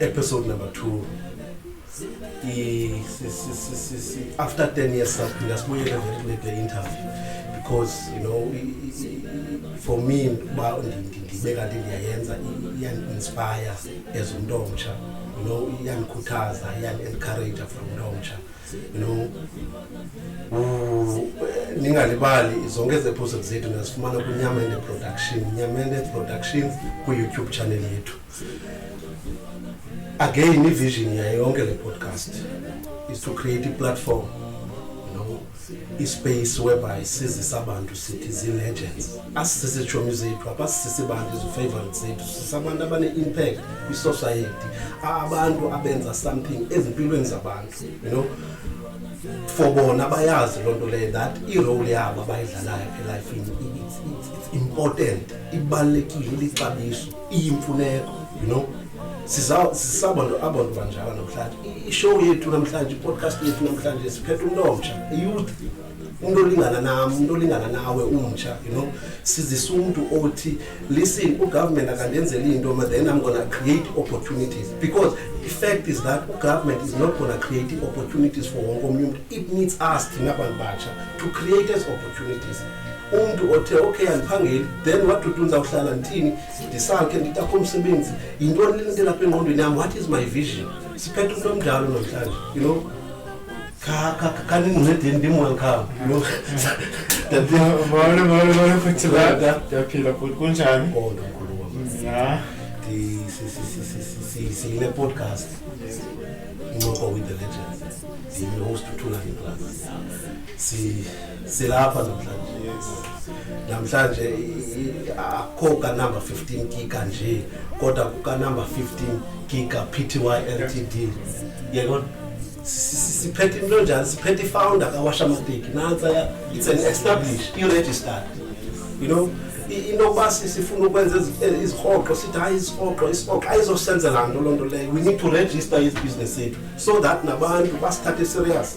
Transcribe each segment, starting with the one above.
Episode number two. after 10 years saphinda sibuyele very late le interview because you know for me uba ndibe kanti ndiyayenza iyandi-inspire as umntu omtsha you know iyandikhuthaza iyandi-encouraja for umntu omtsha you know ningalibali zonke ezi episode zethu ndazifumana kwinyamende production nyamende productions kwi-youtube channel yethu again ivision yayo yonke le podcast is to create iplatform you know ispace whereby sizisa abantu sithi zii-legends asisisi tshomi zethu apasisisi bantu izifavourite zethu sisabantu abane-impact kwisociety abantu abenza something ezimpilweni zabantu you know for bona bayazi loo nto leyo that irole yabo abayidlalayo elifini it's important ibalulekile lixabiso iyimfuneko you know sisabantu abantu banjalo namhlanje ishow yethu namhlanje ipodcast yethu namhlanje siphetha umntu omtsha iyouth umntu olingana nam umntu olingana nawe umtsha you know sizisa umntu othi listen ugovernment akandenzeli into ma then i'm gonna create opportunities because the fact is that ugovernment is not gonna create opportunities for wonke omnye umntu it needs us thina bantu batsha to create as opportunities umntu othe okay andiphangeli then what to do ndizawuhlala ndithini ndisakhe nditakho umsebenzi yintoni le nto elapha engqondweni yam what is my vision siphethe umntu omdlalo namhlanje you know kaningcedeni ndimoya kham ndiyaphila bhuti kunjani siyine-podcast incoko with the legends ndiyi-host uthula ngeclass silapha namhlanje namhlanje akho kanumber 15 giga nje kodwa kukanumber 15 giga pty ltd yekona siphethe into njani siphethe ifounder kawasha mateki nantsa it's an established i-registered you know into yokuba sifuna ukwenza izihoxo sithi hayi isihoxo isihoxo ayizosenzela nto loo nto leyo we need to register izibusiness zethu so that nabantu basithathe serious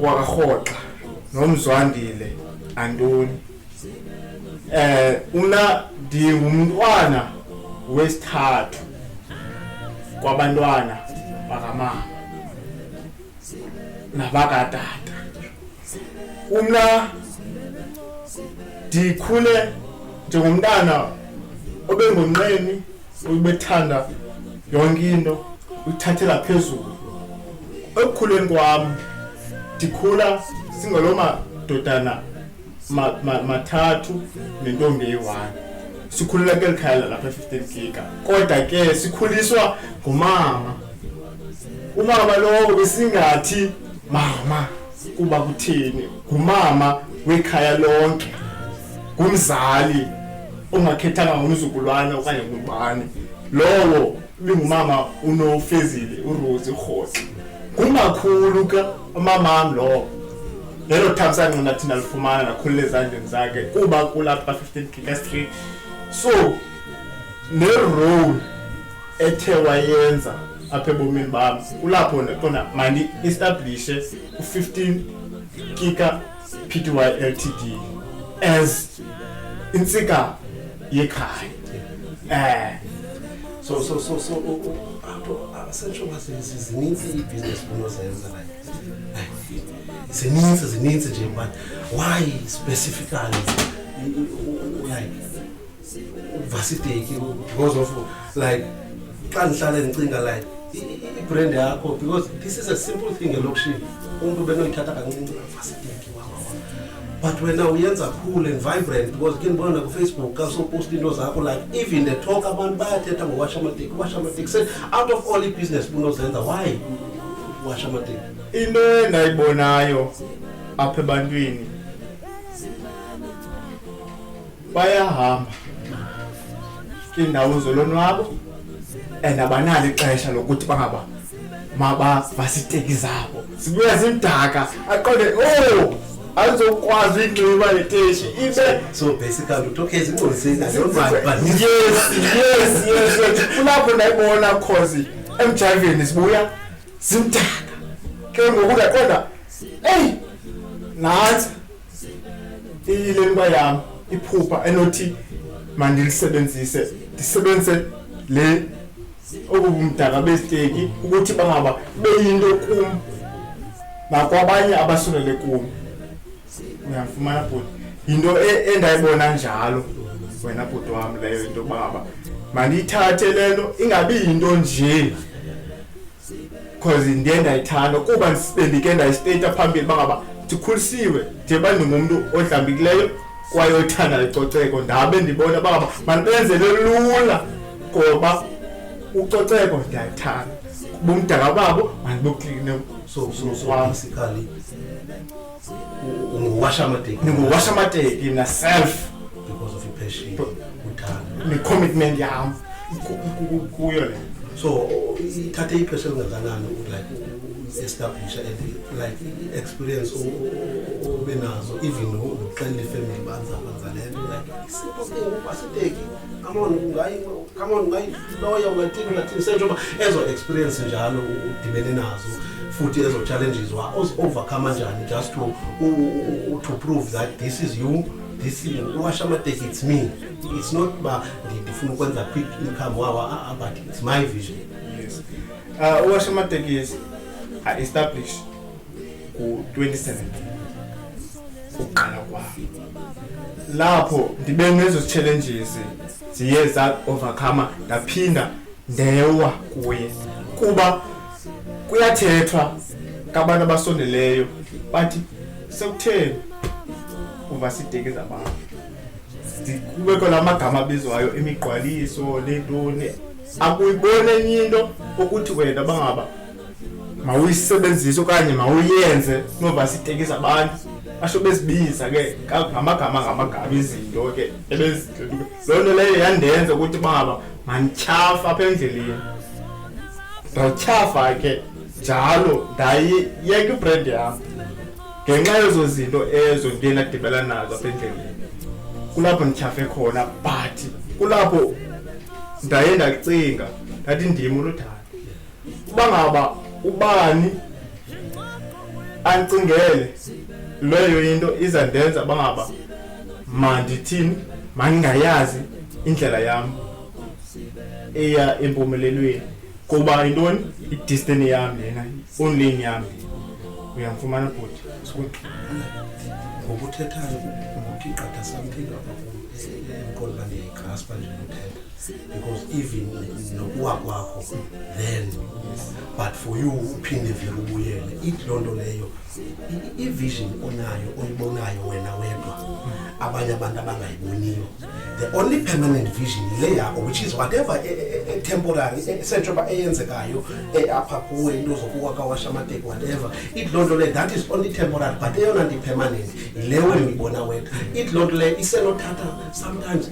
wakarhoxa nomzwandile antoni eh una ndingumntwana wesithathu kwabantwana bakamama nabakatata umna ndikhule njengomntana obengonqeni ubethanda yonke into uyithathela phezulu ekukhuleni kwam ndikhula singaloo madodana mathathu nentombi eyi-one sikhulela keli khaya lalapha e-fifteen giga kodwa ke sikhuliswa ngumama umama lowo besingathi mama kuba kuthini ngumama wekhaya lonke ngumzali ongakhethanga ngumzukulwana okanye ngubani lowo bingumama unofezile urosi urhosi ngumakhulu ke umamam lowo lelo thamsanqa nathi ndalifumana nakhulula ezandleni zakhe kuba kulapha 15 kika street so nerole ethe wayenza apha ebomini bam kulapho ndiqonda mandi establishe u-15 kika p t y l t d as intsika yekhaya um so so so so apho asetsho uba zininzi iibhizinesi funa ozenza zininzi zininzi nje mani why specifically like vasideki because of like xa ndihlale ndicinga like ibrand yakho because this is a simple thing elokishini umntu benoyithatha kancinci vasideki but wena uyenza cool and vibrant because ke ndibona nakufacebook xa soposta into zakho like even the talk abantu bayathetha ngowasha amateki washa amateki se out of all ibusiness bunozenza why washa amateki into endayibonayo apha ebantwini bayahamba iindawo zolonwabo and abanalo ixesha lokuthi bangaba mabavasiteki zabo sibuya zimdaka aqonde o oh, azokwazi uyinxiba leteshi ibe so basically utokezi ingqozisenayoyes yes yes kulapho ndayibona khozi emjayiveni sibuya zimdaka ke ngoku ndaqonda eyi nantsi iyile miba yam iphupha enothi mandilisebenzise ndisebenzise le obu bumdaka beziteki ukuthi bangaba beyinto kum nakwabanye abasulele kum uyamfumana bhuti yinto e-, endayibona njalo wena bhuti wam leyo into baba mandiyithathe le nto ingabi yinto njee because ndiye ndayithanda kuba bendike ndayisteyita phambili uba ngaba ndikhulisiwe ndiba ndingumntu odlambikileyo kwaye othanda icoceko ndabe ndibona uba ngaba mandibenzele lula ngoba ucoceko ndiyayithanda bumdaka babo mandiboklinesosokwamsikali unguwasha amateki ndinguwasha amateki mna self because of ipassion uthando ne-commitment yam kuyo le so ithathe ipesha elingakanani like establisha and like experience ube nazo even nokuxelela ifamily banzaba nzalento like isipho ke ngoku aseteki amona ungayi come on mayiloya ungathini ungathini senjengoba ezo experience njalo udibene nazo futhi ezo challenges wa overcome njani just to to prove that this is you this is uwasha amateki it's me it's not ba ndifuna ukwenza quick income wawa ah, ah, but it's my vision yes uh, uwasha amatekisi i establish ku-2017 ukuqala kwam lapho ndibe nezo challenges ziye za-overcome ndaphinda ndewa kuye kuba kuyathethwa kabantu abasondeleyo bathi sekutheni uva sideke zabantu kubekho la magama abizwayo imigqwaliso neentoni akuyiboni enye into ukuthi wena bangaba mawuyisebenzise okanye mawuyenze kunoba sitekisa abantu basho bezibiza ke ngamagama ngamagama izinto ke ebezihlelile loo nto leyo yandenza ukuthi baba mandityhafa apha endleleni ndatyhafa ke njalo ndayiyeka ibrand yam ngenxa yezo zinto ezo ndiye ndadibela nazo apha endleleni kulapho ndityhafe khona but kulapho ndaye ndacinga ndathi ndim uludala uba ngaba ubani ancingele leyo into iza ndenza uba ngaba mandithini mandingayazi indlela yam eya empumelelweni kuba yintoni idistini yam lena onlini yam uyamfumana bhuti ngokuthethayo ngokuthi gqatha samthinga apha kum enkolo bandiyayigqaspa nje uthetha because even nokuwa kwakho then but for you uphinde vele ubuyele ithi loo nto leyo ivision onayo oyibonayo wena wedwa abanye abantu abangayiboniyo the only permanent vision yile yakho which is whatever e, e, e, temporary esentsho uba eyenzekayo apha kuwe into zokuwa kawasha amateki whatever ithi loo nto leyo that is only temporary but eyona nto ipermanent yile wena uyibona wedwa ithi loo nto leyo isenothatha sometimes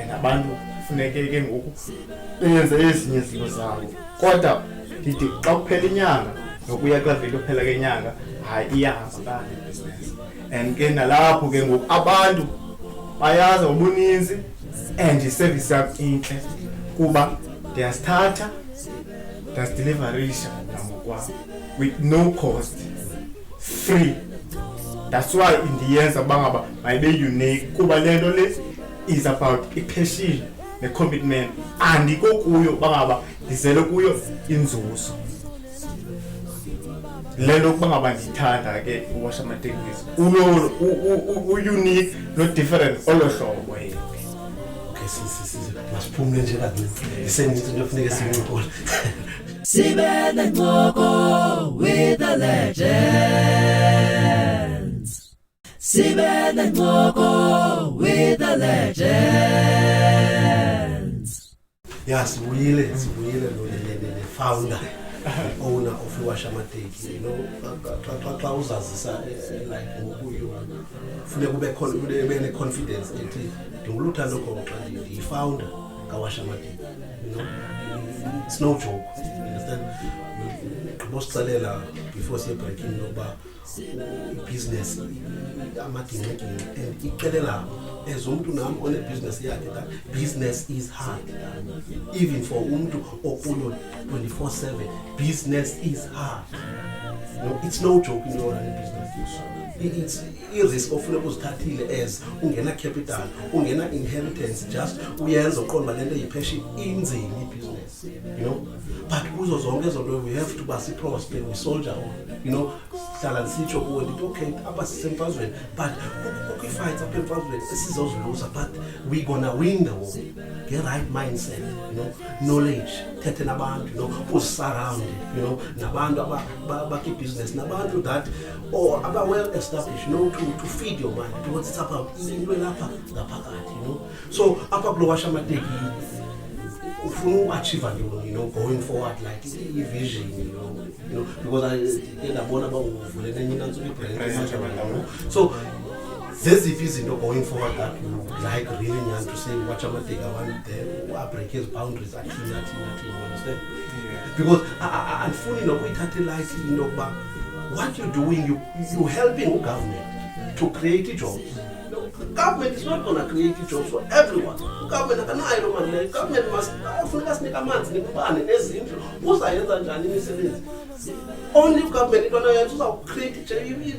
and abantu kufuneke ke ngoku benze ezinye izinto zabo kodwa ndithi xa kuphela inyanga nokuya kula veki yokuphela kenyanga hayi iyahamba kanye ibhizinesi and ke nalapho ke ngoku abantu bayazi ngobuninzi and iservice yam intle kuba ndiyasithatha ndiyasidelivalisha nangokwam with no cost free that's why indiyenza uba ngaba mayibe unique kuba le nto le is about ipassion necommitment andiko kuyo uba ngaba ndizele kuyo inzuzo le nto ukuba ngaba ndiyithanda ke uwasha amatekisi ulolo uunique nodifferent olo hlobo yena masiphumule nje kancinci iseninzi into efuneke siyincokole sibe nencoko with the legends sibe nencoko with the legends ya sibuyile sibuyile lo founder owner of iwashamateki you know xa uzazisa eh, eh, like ngokuyo funeka ube ne-confidence ethi ndinguluthando khona xa ndiyifounder kawasha amadini sinowujoko understand ngibositsalela before siye breaking lokuba ibhiziness amagingxigingxi and icelelabo as umntu nam onebhiziness yakhe that business is hard even for umntu okulo 24 7 business is hard no, it's no joke in your business it's irisk ofuna ukuzithathile as ungena capital ungena inheritance just uyenza uqonda uba le nto yipheshini inzima ibhiziness you know but kuzo zonke ezo nto we have to ba siprospe we soldier on you know hlala ndisitsho kuwe ndithi okay apha sisemfazweni but kukho iifights apha emfazweni esizoziluza but we gonna win the war nge-right mindset you know knowledge thethe nabantu you know uzisurround you know nabantu bakibhizinesi nabantu that or aba well established no to, to feed your mind because it's apha into elapha ngaphakathi you know so apha kulo washa amateki ufuna uachieve ntoni you know going forward like i-vision you know you know because ke ndabona uba uvule nenye inantsuku ibrand so zeziphi izinto going forward that you like really nyani to say watch amateki abantu there uabreak ezi boundaries athini athini athini understand because andifuni nokuyithatha ilight into yokuba What you doing, you, you helping government to create jobs. Government is not gonna create jobs for everyone. Government akanayo loo mali leyo. Government must afuneka sinike amanzi nembane nezindlu. Uzayenza njani imisebenzi? Only government into anoyenza uzawucreate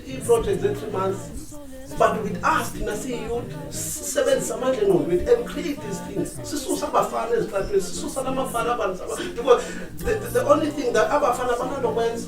i-project ze-three months. But with us thina siyiyouth sisebenzisa amandla engqondo wethu and create these things. Sisusa abafana ezitratweni, sisusa namafana abantu. Because the, the, the only thing that abafana bananto kwenza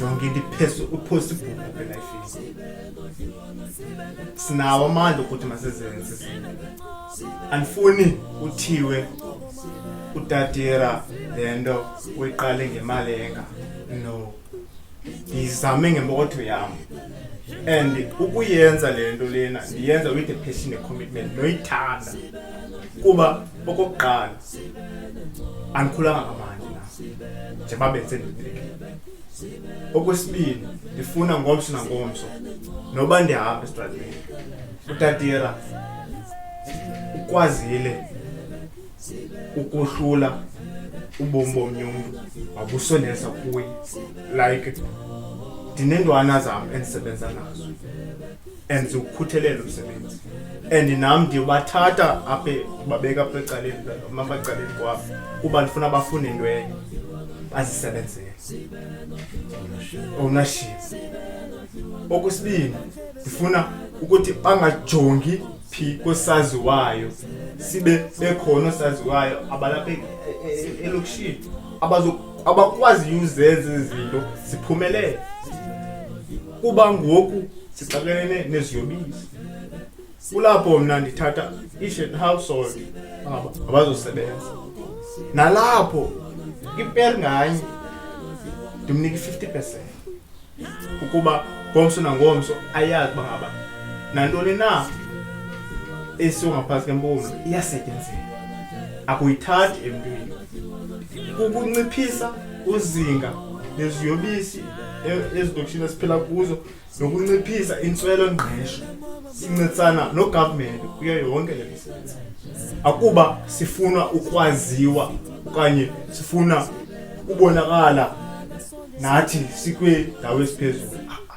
yonke into iphezulu uphosible elifini sinawo amandla okuthi masizenze andifuni kuthiwe utatira le nto uyiqale ngemali enga no ndiyizame ngempokotho yam and ukuyenza le nto lena ndiyenza with a passion a commitment noyithanda kuba okokuqala andikhulanga ngamandi na njengoba benze ndibeke okwesibini ndifuna ngomso nangomso noba ndihamba esitratweni utatira ukwazile ukohlula ubomi bomnye umntu wakusondeza kuye like ndinentwana zam endisebenza nazo and ukukhuthelele umsebenzi and nam ndiyobathatha aphe babeka apha ecaleni mabacaleni kwabo kuba ndifuna bafune into enye azisebenzele ownership okwesibini ndifuna ukuthi bangajongi phi kosaziwayo sibe bekhona osaziwayo abalapha e- e- e- elokishini abakwaziyo uzenza izinto ziphumelele kuba ngoku sixakelene neziyobisi kulapho mna ndithatha each and household abazosebenza nalapho iper nganye ndimnika i-fifty percent ukuba ngomso nangomso ayazi uba ngaba nantoni na esiwo ngaphantsi kempumlo iyasetyenzela akuyithathi emntwini kukunciphisa uzinga leziyobisi e-, ezilokishini esiphila kuzo nokunciphisa intswelo-ngqesho sincedisana nogovernment kuyo yonke le misebenzi akuba sifuna ukwaziwa okanye sifuna ubonakala nathi sikwindawo esiphezulu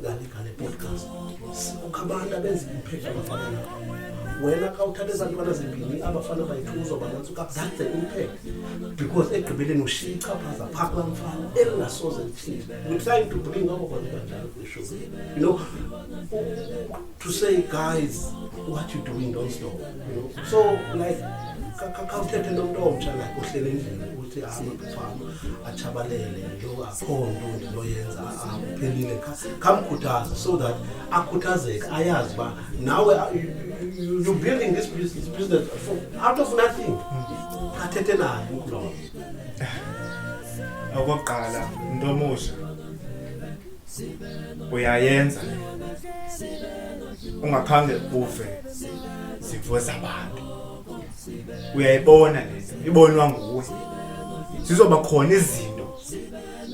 ngalegale podcast sikukho abantu abenza imiphetho abafana wena xa uthatha eza ntwana zimbini abafana bayithuzwa banantsi ukabdade umphele because egqibeleni ushiye ichaphaza phaa kula mfana elingasoze lithile we're trying to bring our bantwana kwisho you know to say guys what you doing don't stop you know? so like khawuthethe nomntu omtsha like ohlele endlini ukuthi hamba kufama atshabalele lo akho nto ndinoyenza akuphelile khamkhuthaza so that akhuthazeke ayazi uba nawe you building this business, business for, out of nothing athethe naye umntu lowo okokuqala mntu omusha uyayenza le ungakhange uve zimvo zabantu uyayibona le nto ibonwa nguwe zizoba khona izinto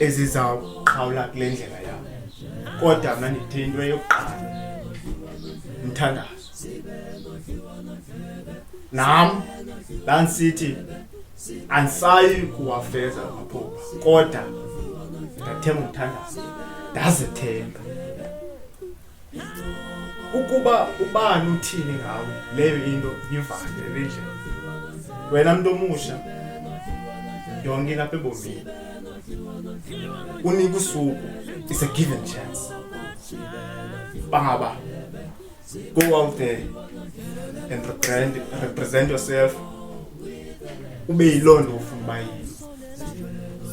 ezizawuqhawula kule ndlela yam kodwa mna ndithe into eyokuqala mthandazo nam ndandisithi andisayi kuwafeza amaphupha kodwa ndathemba umthandazo ndazithemba ukuba ubani uthini ngawe leyo into yivale endlini wena mntu omusha yonke into apha ebomini unika usuku is a given chance bangaba Go out there and represent, represent yourself. Ube yiloo nto ufuna uba yiyo.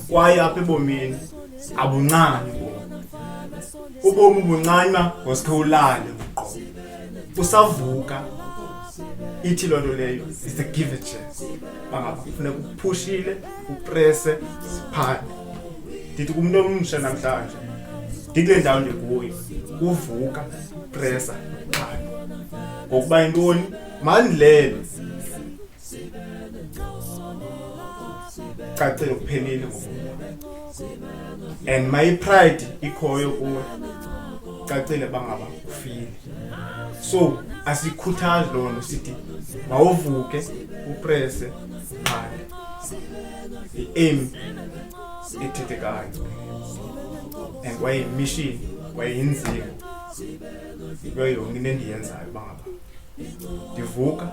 Kwaye apha ebomini abuncani bona. Ubomi buncani uba ngosikhe ulale uqobo. Usavuka ithi loo nto leyo is a give a chance bangaba kufuneka uphushile uprese siphande ndithi kumntu omsha namhlanje ndikule ndawo ndikuyo kuvuka presa ngokuba yintoni mani lelo cacile kuphelile and my pride ikhoyo kuwe cacile bangaba ufile so asikhuthazi loo nto sithi mawuvuke uprese qale i-aim ethethekayo and kwaye yimishini kwaye yinzima yinto yonke into endiyenzayo uba ngaba ndivuka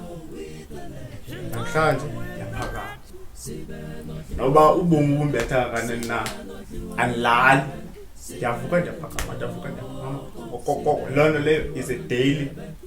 namhlanje ndiyaphakama noba ubomi bumbetha kanini na andilali ndiyavuka ndiyaphakama ndiyavuka ndiyaphakama okokoko loo nto leyo is a daily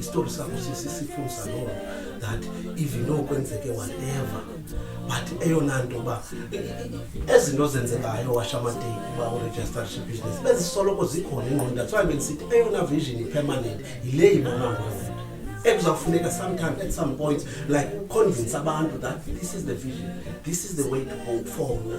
isitori sakho sisifundisa loo that even okwenzeke whatever but eyona nto uba ezi nto zenzekayo washamadeni uba uregistership business bezisoloko zikhona ingqondo that's why bendisithi eyona vision ipermanent yile yibona ngoku ekuzawufuneka sometimes at some point like uconvince abantu that this is the vision this is the way to go for mna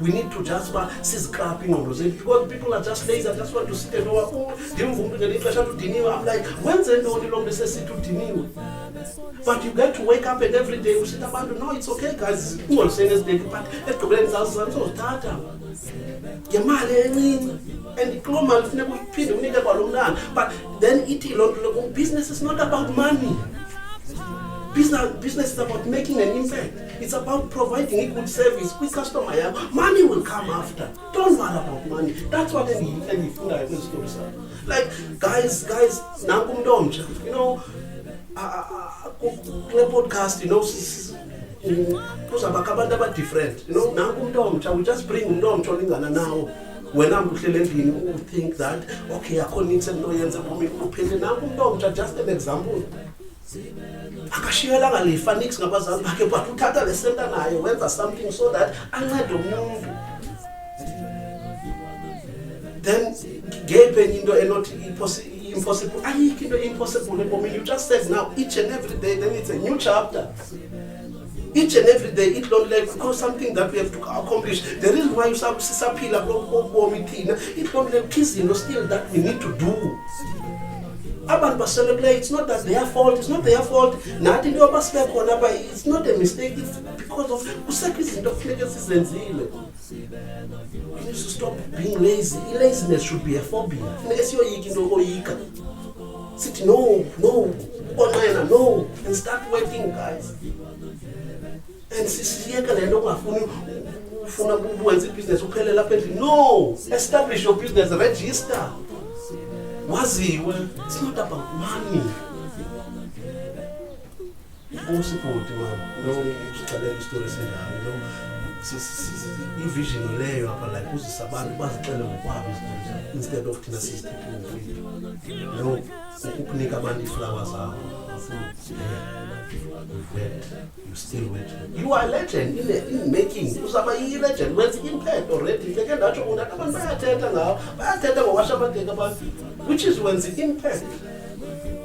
We need to just ba sizikraphe ingqondo zethu because people are just lazy. I just want to sit and over. Oh, ndimvumbi ngeli xesha ludiniwe. I'm like, wenze ntoni lo mntu esesithi udiniwe? But you get to wake up and every day you usita abantu, no, it's okay guys. Ungolseni esideki but ekugqibeleni sazizana sozithatha. Ngemali encinci and ikuloo mali funeka uyiphinde unike kwalo mntana but then ithi loo nto loku business is not about money business, business is about making an impact It's about providing a good service kwi-customer yakho. Money will come after. Don't worry about money. That's what endiyifundayo kwezi story sakho. Like, guys, guys, nanku umntu omtsha. You know, kule podcast, you know, kuzabakho abantu abadifferent. You know, nanku umntu omtsha. We just bring umntu omtsha olingana nawo. wena mntu uhlele endlini u think that okay akho nintsi endinoyenza bomi kuphele nanku umntu omtsha just an example akashiyelanga lifa nix ngabazali bakhe but uthatha le senta naye wenza something so that ancede umuntu then ngeyiphi enye into enothi impossible ayikho into impossible ebomini you just said now each and every day then it's a new chapter each and every day it don't like because something that we have to accomplish the reason why sisaphila kulobomi thina it don't like izinto still that we need to do abantu basele kule it's not that their fault it's not their fault nathi into yoba sibe khona uba it's not a mistake it's because of kusekho izinto kufuneke sizenzile you need to stop being lazy i-laziness should be a phobia funeke siyoyika into okoyika sithi no no ukonqena no and start working guys and sisiyeke le nto ungafuni ufuna uwenza ibhizinesi uphele lapha endlini no establish your business register waziwe it's not about money Inkosi bhuti mani lo usixelela isitori esinjani lo ivision leyo apha like uzisa abantu bazixele ngokwabo izinto instead of thina sizithethe ngomfile no ukukunika abantu iiflawa zabo you still wait you are legend in, the, in making uzaba yi-legend wenza imphetho already ndeke ndatsho undata abantu bayathetha ngawo bayathetha ngowasha abageka abantu which is wenza imphetho